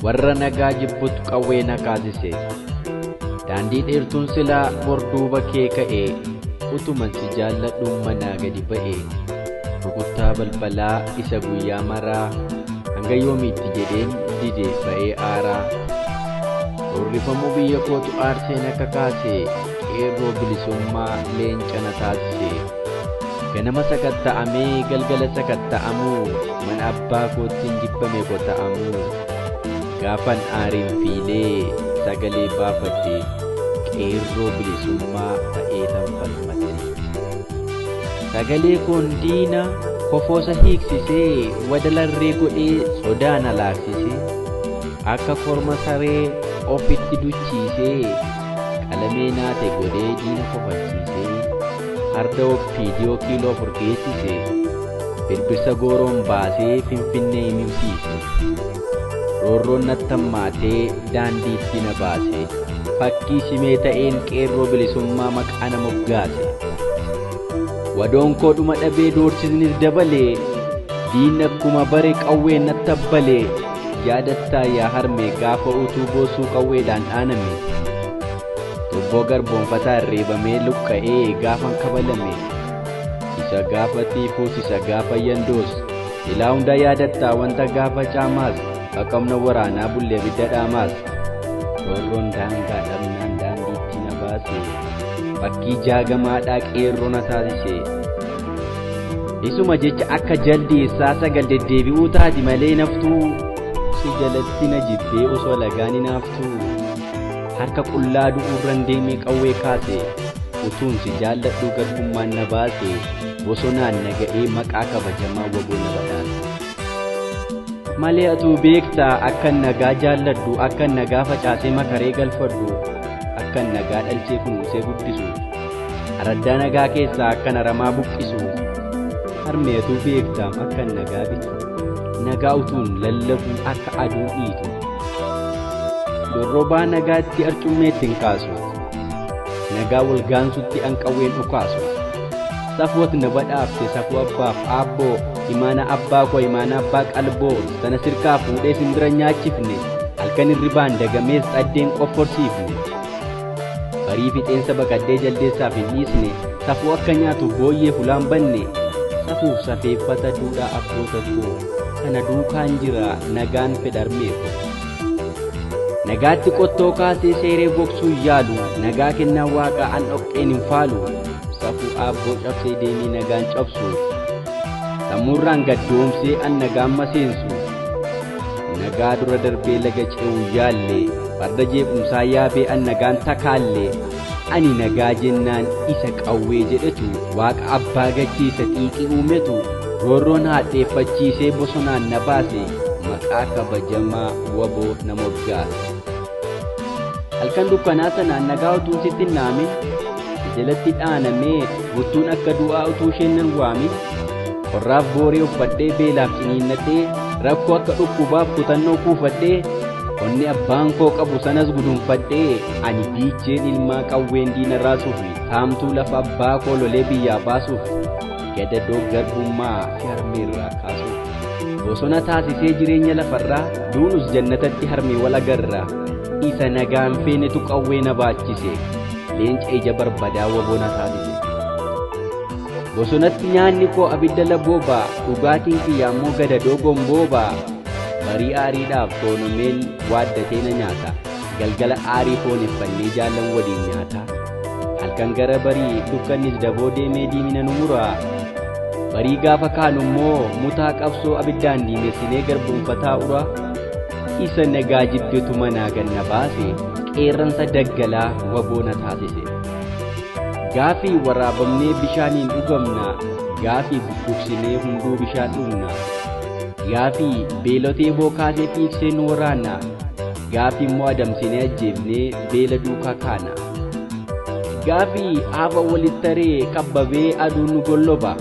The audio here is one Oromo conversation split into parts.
warra nagaa jibbutu qawwee na kaasise daandii dheertuun silaa borduuba kee ka'e utuman si jaalladhuun manaa gadi ba'e rukuttaa balbalaa isa guyyaa maraa hanga yoomiitti jedheen didee ba'ee aaraa roorrifamuu biyya kootu aarseen akka kaase Qeerroo bilisummaa leenca na taasise. Ganama sakatta'amee galgala sakatta'amuu mana abbaa koottiin jibbame kota'amuu. Gaafan aariin fiilee sagalee baafadhe qeerroo bilisummaa ta'ee tan falmadhe. Sagalee koon diina kofoosa hiiksisee wadalarree godhee sodaa na laaksise. Akka korma saree ofitti duchiisee Qalamee naate godhee diina kofalchiisee farda oppiidiyoo kiiloo afur geessise birbirsa gooroon baasee finfinnee imimsiise roorroon nattammaatee daandii itti na baase fakkii simee ta'een qeerroo bilisummaa maqaa na moggaase wadoon koo dhuma dhabee doorsisnis dabalee diinni akkuma bare qawween nattabbalee Yaadattaa yaa harmee gaafa utuu boosuu qawweedhaan dhaaname Tubboo garboonfataan reebamee luqqa'ee gaafan kabalame Isa gaafa tiifuus isa gaafa yandoos Ilaa hunda yaadattaa wanta gaafa caamaas Haqamna waraanaa bullee bidda dhaamaas Roorroon daangaa dhabnaan daandiitti na baase Fakkii jaagamaadhaa qeerroo na taasise Isuma jecha akka jaldii issaa sagal deddeebi'uu taati malee naftuu. Si jalatti na jibbee osoo lagaan hin haaftuu. Harka qullaa du'uurran deemee qawwee kaase. Utuun si jaalladhuu garbummaan na baase. Bosonaan na ga'ee maqaa kabajamaa waboo na badhaase. Malee atuu beektaa akkan nagaa jaalladhu akkan nagaa facaasee makaree galfadhu akkan nagaa dhalchee kunuunsee guddisu. Araddaa nagaa keessaa akkan aramaa buqqisu. Harmeetuu fi eegdaam akkan nagaa bitu. Nagaa utuun lallabuu akka aduu dhiitu. Dorrobaa nagaatti arcummeetti hin kaasu. Nagaa wal gaansutti anqawween dhukaasu. Safwat na badhaafte safuu abbaaf aabboo imaana abbaa koo imaana abbaa qalboo sana sirkaa fuudhee simbira nyaachifne halkan irribaan dagamees dhaddeen qofforsiifne. Barii fixeensa baqaddee jaldeessaaf hin dhiisne, safuu akka nyaatu booyyee fulaan banne. Safuuf safeeffata duudhaa abboota koo, kana duukaan jira nagaan fedharmee koo. Nagaatti qottoo kaasee seeree gogsuu yaalu, nagaa kennaa waaqaa an dhoqqeen hin faalu. Safuu aabboo cabsee deemee nagaan cabsu, sammuurraan gaddoomsee an nagaan maseensu. Nagaa dura darbee laga ce'uu yaalle, farda jeequmsaa yaabee an nagaan takaalle. Ani nagaa jennaan isa qawwee jedhetu, waaqa abbaa gachee isa xiiqii uumetu, roorroon haadheeffachiisee bosonaan na baase, maqaa kabajamaa wbo na moggaase. Halkan dukkanaa sanaan nagaa utuu sitti hin dhaamin jalatti dhaanamee buttuun akka du'aa utuu isheen nan waamin qorraaf booree uffadhee beelaaf ciniinnadhee rakkoo akka dhukkubaaf kutannoo kuufadhee onni abbaan koo qabu sanas gudunfadhee ani biicheen ilmaa qawween diina raasuuf saamtuu lafa abbaa koo lolee biyyaa baasuuf gadadoo garbummaa harmeerraa kaasuuf bosona taasisee jireenya lafarraa duunus jannatatti harmee wal agarraa isa nagaan feenetu qawwee na baachise leenca ija barbadaa waboona taasise bosonatti nyaanni koo abidda laboobaa dhugaatiin kiyya ammoo gadadoo gomboobaa barii aariidhaaf toonomeen waaddatee na nyaata Galgala aarii foon effannee jaallan waliin nyaataa. Halkan gara barii dukkannis daboo deemee diimina nu muraa. Barii gaafa kaanu immoo mutaa qabsoo abiddaan diimessinee garboonfataa uraa. Isa nagaa jibbetu manaa ganna baase qeerransa daggalaa waboona taasise. Gaafii waraabamnee bishaaniin dhugamna, gaafii bubbuksinee hunduu bishaan dhugna. Gaafii beelotee bookaasee fiigsee nu waraanna. Gaafii immoo adamsinee ajjeefnee beela duukaa kaana. Gaafii hafa walitti taree kabbabee aduu nu golloba.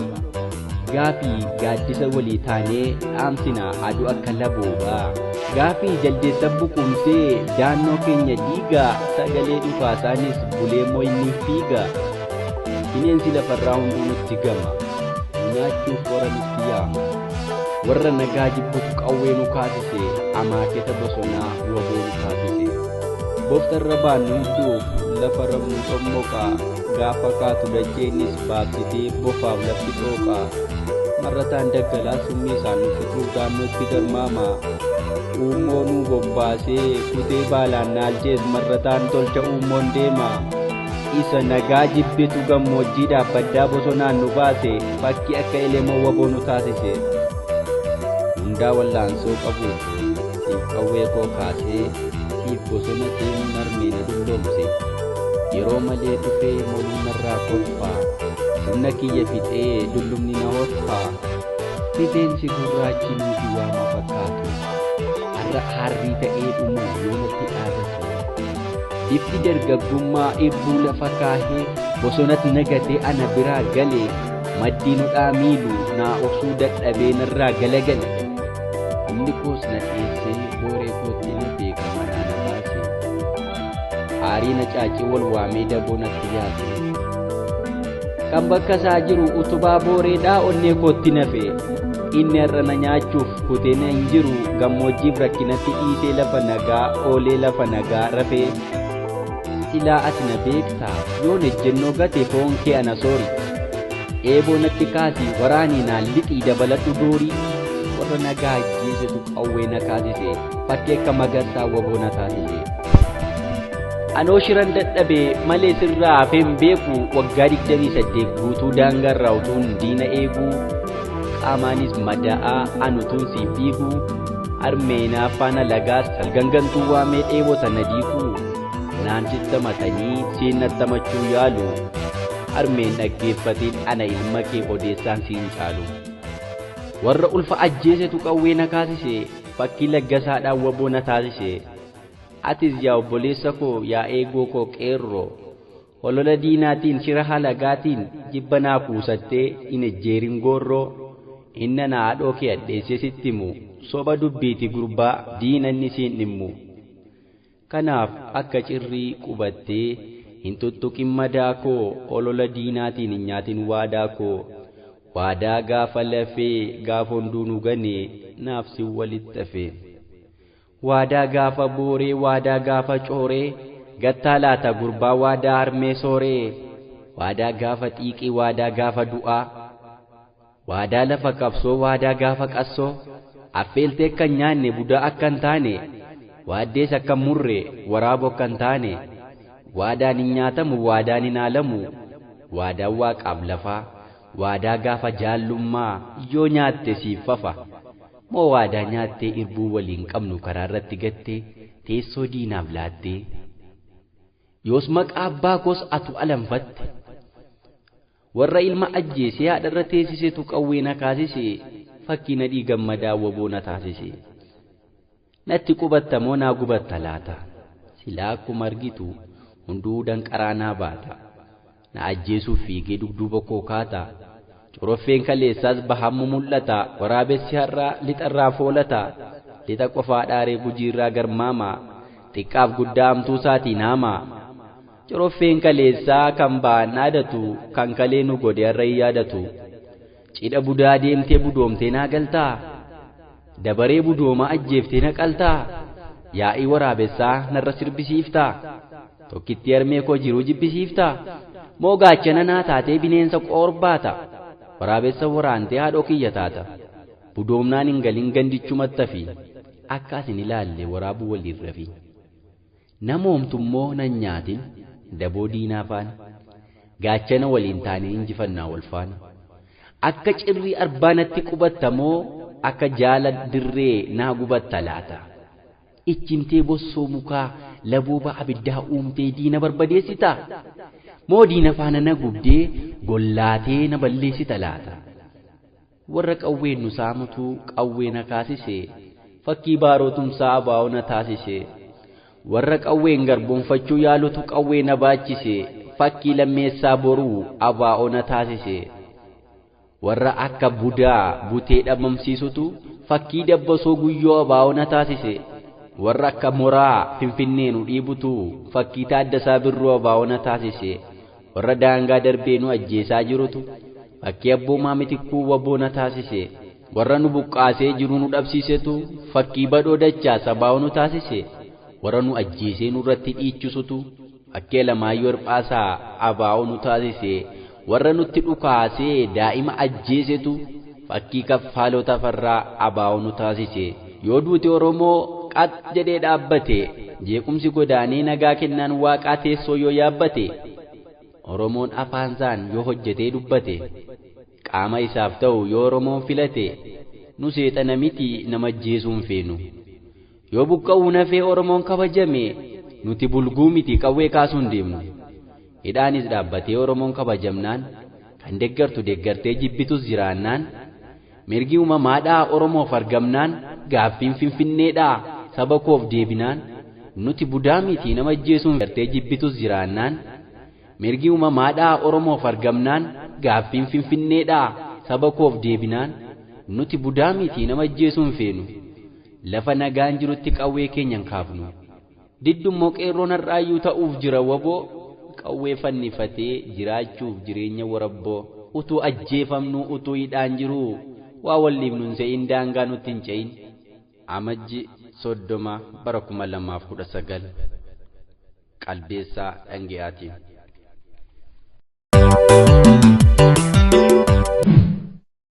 Gaafii gaaddisa walii taanee dhaamsina aduu akka labooba. Gaafii jaldeessa buquumsee daannoo keenya diiga sagalee dhukaasaanis bulee moyniif fiiga. Bineensi lafarraa hunduu nutti gama. Nyaachuuf warra nutti yaama. Warra nagaa jibbutu qawwee nu kaasise, amaaketa bosonaa waboo nu taasise. Boftarra baannu hidduuf lafa rabnu xommoqa, gaafa kaatu dacheenis baabsitee bofaaf lafti xooqa. Marrataan daggalaa summii isaan nu fixuuf daannootti garmaama. Uummoo nuu bobbaasee kutee baalaan naalchees marrataan tolcha uummoon deema. isa nagaa jibbitu gammoojjiidhaaf baddaa bosonaan nu baase fakkii akka elemoo waboo nu taasise hundaa wallaansoo qabu siif qawwee koo kaasee siif bosona deemu narmee na dulloomse yeroo malee dhufee moluu narraa kolfaa humna kiyya fixee dullumni na horfaa rifeensi gurraachi nuuti waama fakkaatu har'a harrii ta'ee dhumuuf yoonatti dhaabatu Ifti dargaggummaa eebbuu lafa kaahee bosonat nagatee ana biraa galee maddii nudhaa miiluu naa obsuu dadhabee narraa galagale. Humni koos na dheessee booree kootti na beeka manaa na baase. Aarii na caacee wal waamee daboo natti yaase. Kan bakka isaa jiru utubaa booreedhaa onnee kootti nafe. Inni har'a na nyaachuuf kutee na hin jiru gammoojjiif rakkinatti dhiisee lafa nagaa oolee lafa nagaa rafee. Silaa ati na beekta yoon ejjennoo gate foon kee ana soori. Eeboo natti kaasi waraanii naan lixii dabaladhu doorii. Warra nagaa ajjeesetu qawwee na kaasise fakkii akka magarsaa waboo na taasise. Anoo shiran dadhabe malee sirraa hafeen beeku waggaa 28 guutuu daangaarraa utuun diina eegu qaamaanis mada'aa an utuun siif dhiigu armee naaffaan alagaas salgangantuu waamee dheebota na diigu naan sittamatanii siin nattamachuu yaalu armeen dhaggeeffatiin ana ilma kee odeessaan siin caalu warra ulfa ajjeesetu qawwee na kaasise fakkii laggasaadhaan waboo na taasise. Atis yaa obboleessa koo, yaa eegoo koo qeerroo, holola diinaatiin, shira halagaatiin, jibba naa kuusattee, hin ejjeerin goorroo, inni ana haadhoo kee hadheessee sitti himu, soba dubbiiti gurbaa, diina inni siin dhimmu. Kanaaf akka cirrii qubattee, hin tuttuqin madaa koo, holola diinaatiin hin nyaatin waadaa koo, waadaa gaafa lafee, gaafa hunduu nu gane, naaf sin walitti hafe. Waadaa gaafa booree waadaa gaafa cooree Gattaa laata gurbaa waadaa harmee sooree Waadaa gaafa xiiqii waadaa gaafa du'aa Waadaa lafa qabsoo waadaa gaafa qassoo Affeeltee akka hin nyaanne budaa akka hin taane Waaddees akka hin murre waraabu akka hin taane Waadaan hin nyaatamu waadaan hin haalamu Waadaan waaqaaf lafaa Waadaa gaafa jaallummaa yoo nyaatte siif fafa Moo waadaa nyaattee irbuu waliin qabnu karaarratti gattee teessoo diinaaf laattee? Yoos maqaa abbaa koos atu alanfatte. Warra ilma ajjeesee haadharra teessisetu qawwee na kaasise fakkii Nadhii Gammadaa wbo na taasise. Natti qubatta moo naa gubatta laata? Silaa akkuma argitu hunduu danqaraa naa baata. Na ajjeesuuf fiigee dugduuba koo kaata. Coroffeen kaleessaas bahaanmu mul'ata. Waraabessi har'aa lixarraa foolata. Lixa qofaa dhaaree gujiirraa garmaama. Xiqqaaf guddaa hamtuusaatiin haama. Coroffeen kaleessaa kan bahaan dhaadatu kan kalee nu godhe har'a hin yaadatu. Cidha budaa deemtee budoomtee naa galtaa? Dabaree budoomaa ajjeeftee na qaltaa? Yaa'ii waraabessaa narra sirbisiiftaa? Tokkittii harmee koo jiruu jibbisiiftaa? Moo gaachana naa taatee bineensa qoor baata? Waraabessa waraantee haadhoo kiyya taata? Budoomnaan hin galin gandichumattafi akka as hin ilaalle waraabuu waliin rafi. Nama homtummoo nan nyaatin, daboo diinaa faana, gaachana waliin taanee injifannaa wal faana. Akka cirrii arbaa natti qubatta moo akka jaala dirree naa gubatta laata? Ijjimtee bossoo mukaa, labooba abiddaa uumtee diina barbadeessitaa? Moo diina faana na gubdee, gollaatee na balleessita laata? Warra qawween nu saamutu qawwee na kaasise. Fakkii baaroo tumsaa abo na taasise. Warra qawween garboomfachuu yaalutu qawwee na baachise. Fakkii Lammeessaa Boruu abo na taasise. Warra akka budaa butee dhabamsiisutu fakkii Dabbasoo Guyyoo abo na taasise. Warra akka moraa Finfinnee nu dhiibutu fakkii Taaddasaa Birruu abo na taasise. Warra daangaa darbee nu ajjeesaa jirutu fakkii Abboomaa Mitikkuu wbo na taasise. Warra nu buqqaasee jiruu nu dhabsiisetu fakkii Badhoo Dachaa Sabaawoo nu taasise. Warra nu ajjeesee nurratti dhiichisutu fakkii Alamaayyoo Hirphaasaa abo nu taasise. Warra nutti dhukaasee daa'ima ajjeesetu Fakkii Kaffaaloo Tafarraa Abaawoo nu taasise. Yoo duuti Oromoo qax jedhee dhaabbate, jeequmsi godaanee nagaa kennaan Waaqaa teessoo yoo yaabbate, Oromoon afaansaan yoo hojjetee dubbate, qaama isaaf ta'u yoo Oromoon filate, nu seexana miti nama ajjeesuu hin feenu. Yoo buqqa'uun hafee Oromoon kabajame nuti bulguu miti qawwee kaasuun deemnu. Hidhaanis dhaabbatee Oromoon kabajamnaan, kan deggartu deggartee jibbitus jiraannaan, mirgi uumamaadhaa Oromoof argamnaan, gaaffiin Finfinneedhaa saba koof deebinaan, nuti budaa miti nama ajjeesuun deggartee jibbitus jiraannaan, mirgi uumamaadhaa Oromoof argamnaan, gaaffiin Finfinneedhaa saba koof deebinaan, nuti budaa miti nama ajjeesuu hin feenu. Lafa nagaan jirutti qawwee keenya hin kaafnu. Diddu immoo qeerroon har'aayyuu ta'uuf jira wbo qawwee fannifatee jiraachuuf jireenya warabboo. Utuu ajjeefamnuu utuu hidhaan jiruu waa wal dhiibnu hin se'iin daangaa nutti hin ce'iin. Amajji 30 bara 2019 Qalbeessaa Dhange'aatiin.